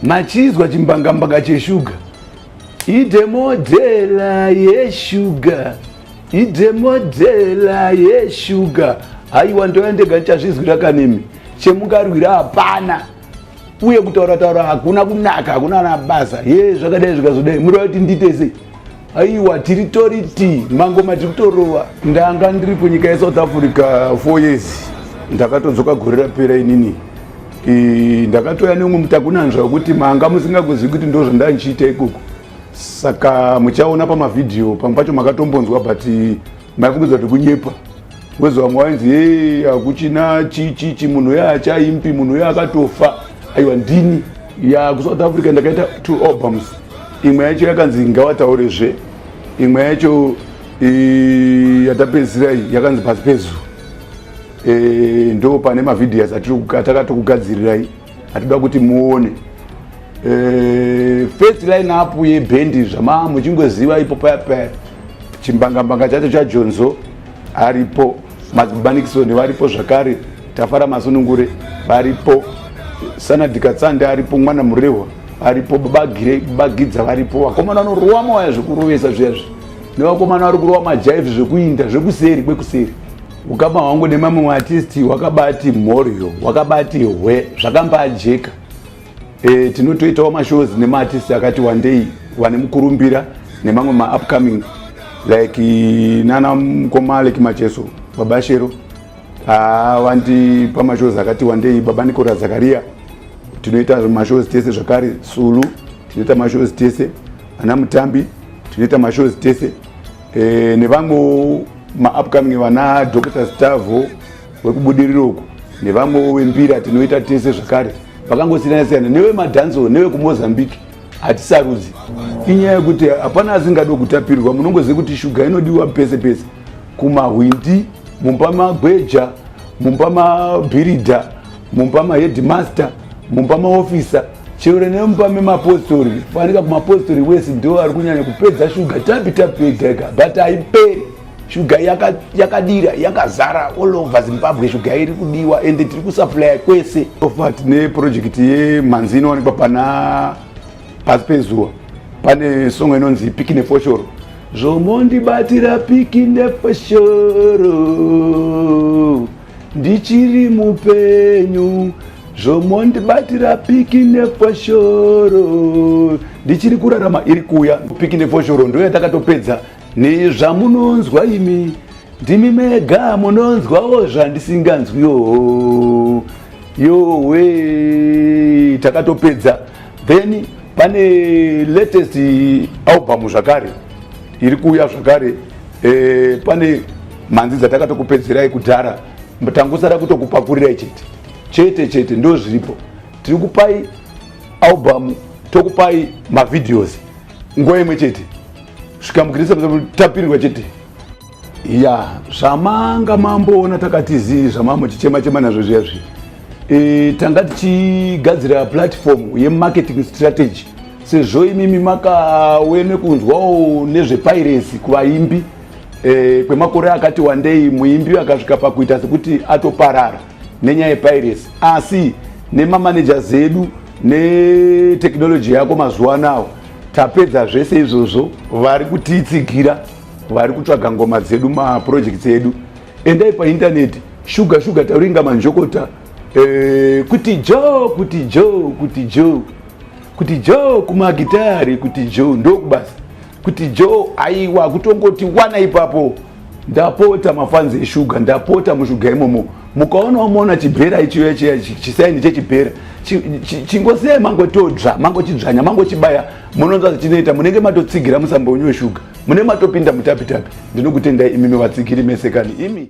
Machinzwa chimbangambanga cheshuga idemodhela yeshuga idemodhela yeshuga haiwa ndova ndega ndichazvizwira kanemi chemungarwira hapana uye kutaura taura hakuna kunaka hakuna anabasa ye zvakadai zvikazodai murova kuti nditese aiwa tiri toriti mangoma tiri kutorova ndanga ndiri kunyika yesouth africa four years ndakatodzoka gore rapera inini ndakatouya neumwe mutakunanzva wekuti manga musingakuzivi kuti ndo zvandaa ndichiita ikoko saka muchaona pamavhidhiyo pamwe pacho makatombonzwa but maifungiza kuti kunyepa wezi vamwe wainzi hei hakuchina chichichi munhu uya achaimpi munhu uya akatofa aiwa ndini ya kusouth africa ndakaita two albums imwe yacho yakanzi ngawataure zve imwe yacho yatapedzisira iyi yakanzi pasi pezu e, ndo pane mavhidhias atakatokugadzirirai hatoda kuti muone eh, first line up yebhendi zvama muchingoziva ipo paya paya chimbangambanga chacho chajonzo aripo mazibanikisoni varipo zvakare tafara masunungure varipo sanadhikatsande aripo mwana murehwa aripo babagidza varipo vakomana vanorowa mawaya zvekurovesa zviyazvi nevakomana vari kurova majaivi zvekuinda zvekuseri kwekuseri ukama hwangu nemamwe maartisti wakabati mhoryo wakabati hwe zvakambajeka e, tinotoitawo mashows nemaartisti akati wandei vane mukurumbira nemamwe maupcoming like nana mukoma like macheso baba shero ah, vandi pamashows akati wandei baba nikora zakaria tinoita mashows tese zvakare sulu tinoita mashows tese ana mutambi tinoita mashows tese e, nevamwewo maupcoming vana dr stavo wekubudiriro uku nevamwewo vembira tinoita tese zvakare vakangosiyana siyana nevemadhanzo nevekumozambique hatisarudzi inyaya yekuti hapana asingado kutapirwa munongoziva kuti shuga inodiwa pese pese kumahwindi mumba magweja mumba mabhiridha mumba maheadmaster mumba maofisa chero nemumba memapostori fanika kumapostori wese ndo ari kunyanya kupedza shuga tapi tapi ega ega but haiperi shuga yakadira yaka yakazara all over zimbabwe shuga iri kudiwa and tiri kusuplya kwese ofa tine project yemanzi inowanikwa pana pasi pezuva pane songo inonzi piki nefoshoro zvomondibatira piki nefoshoro ndichiri mupenyu zvomondibatira piki nefoshoro ndichiri kurarama iri kuya piki nefoshoro ndo yatakatopedza nezvamunonzwa imi ndimi mega munonzwawo zvandisinganzwiwo yowe takatopedza then pane latest album zvakare iri kuuya zvakare Eh, pane mhanzi dzatakatokupedzerai kudhara tangosara kutokupakurirai chete chete chete ndo zviripo tiri kupai album tokupai mavideos nguva imwe chete svikamukirisa tapindwa chete ya zvamanga mamboona takati zii zvamambo chichema chema nazvo zviya zviya e, tanga tichigadzira platform yemarketing strategy sezvo imimi makawe nekunzwawo nezvepairesi kuvaimbi e, kwemakore akati wandei muimbi akasvika pakuita sekuti atoparara nenyaya yepairesi asi nemamaneja zedu netekinoloji yako mazuva anawo tapedza zvese izvozvo vari kutiitsigira vari kutsvaga ngoma dzedu mapurojekts edu endai paintaneti shuga shuga tauringa manjokota e, kuti jo kuti jo kuti jo kuti jo kumagitari kuti jo ndokubasa kuti jo aiwa kutongoti wana ipapo ndapota mafanzi eshuga ndapota mushuga imomo mukaona umoona chibhera ichiuya chiya chisaini chechibhera chingosei mangotodzva mangochidzvanya mangochibaya munonzwa zvichinoita munenge matotsigira musambo wenyu weshuga munenge matopinda mutapitapi ndinokutendai imimi vatsigiri mesekani imi